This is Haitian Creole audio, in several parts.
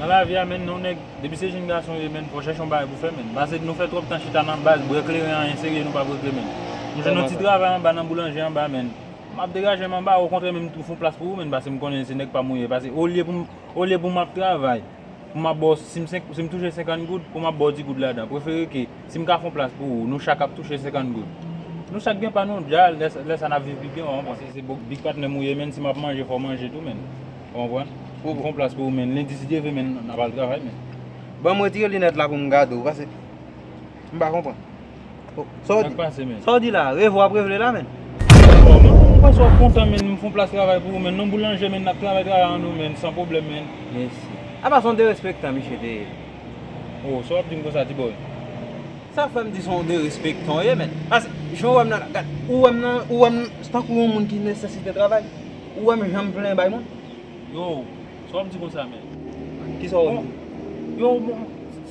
Nan lavi a menn yon nèg depi se jenn gason ou ye menn fò chèche yon bagay pou fè menn pase nou fè twòp tan chita nan baz bwè kleren anyen serye nou pap regle menn m jwenn yon ti travay anba nan boulanje anba menn map degajem anba okontrè menm tou fon plas pou ou menn pase m konnen se nèg pam ou ye pase olye pou m olye pou map travay pou map baw si m senk si m touche 50 goud pou map baw 10 goud ladan prefere ke si m ka fon plas pou ou nou chak ap touche 50 goud nou chak gen pa nou dja lè sa nap viv pi byen wa konprann si se big patnè m ou ye menn si map manje fò manje tou menn. Ou konprann? Ou pran yon plas pou ou men lendi si Dye vle men n ap al travay men. Banm retire linèt la pou m gade w pase m pa konprann. Sa w di? Sak pase men? Sa w di la a? Revo ap revele la men? Bon men m panse w ap kontan men m fon plas travay pou ou men non boulanje men n ap travay travay an nou men san pwoblèm men. Mesi. Apa son derespektan misye te ye? Oh sa w ap di m konsa ti bòy? Sa fè m di son derespektan w ye men? Pase jan w wè m nan la gad ou wè m nan ou wè m tankou yon moun ki nesesite travay? Ou wèm janm plen bay moun? Yow, sa wap di konsa menm? Kisa wap di? Yow bon,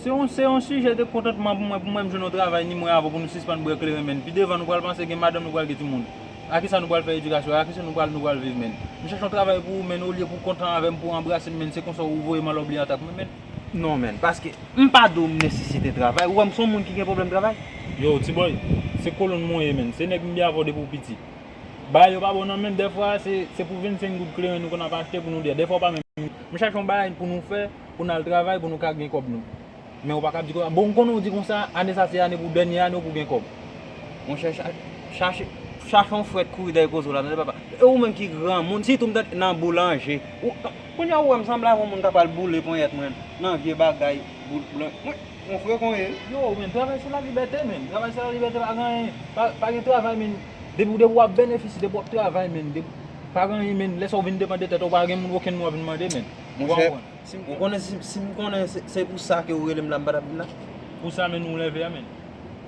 se yon sijè de kontantman pou mwen pou mwen jwenn yon travay ni mwen avèw pou nou sispann bwè kleren menn. Pi devan nou pral panse gen madanm nou pral gen timoun. A kisa nou pral fè edikasyon? A kisa nou pral viv menn? M chèche yon travay pou ou menn olye pou kontan avèm pou anbrasem menn se konsa ou voyem ala w bliye atak mwen menn? Non menn, paske m pa di w m nesesite travay, ou wèm son moun ki gen pwoblèm travay? Yow ti bòy, se kolonn mwen ye menn, se nèg m byen avèw depi w piti. Bagay yo pa bon nan menm dèfwa se pou 25 goud kleren nou konn ap achte pou nou dè dèfwa ou pa menm m chache yon bagay pou nou fè pou nal travay pou nou ka gen kòb nou men ou paka di konsa bon m konnen ou di konsa ane sa se ane pou dènye ane w pou gen kòb monchè chache chache yon frèt kouri dèyè koze w la tande papa e ou menm ki granmoun sitou m tande nan boulanje ou kounye a ou wè m sanble avon moun ka pral boule ponyèt mwen nan vye bagay boulanje. Mon frère kon ye. Yo men travay se la libète men travay se la libète pa gen anyen pa gen travay men depi ou wap benefisye depi wap travay men pa gen anyen men lè sa ou vin depan de tèt ou pa gen moun okenn moun wap vin mande men ou pa konprann ou konnen sim konnen se pou sa ke ou relem la m pa tap vin la pou sa men nou lève a men.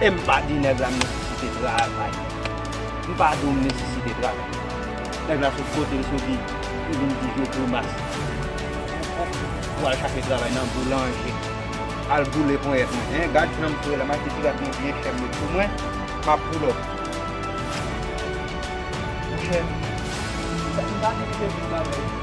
E m pa di nèg la m nesesite travay. M pa di w m nesesite travay. Nèg la sot kote l soti, li vin di vye grimas. Pou al chache travay nan boulanje. Al boule ponyèt mwen. Hein, gad jan m fre la. M achte sigarèt yon vye chèm met sou mwen. M ap pull up. Monchè, m pa nesesite travay.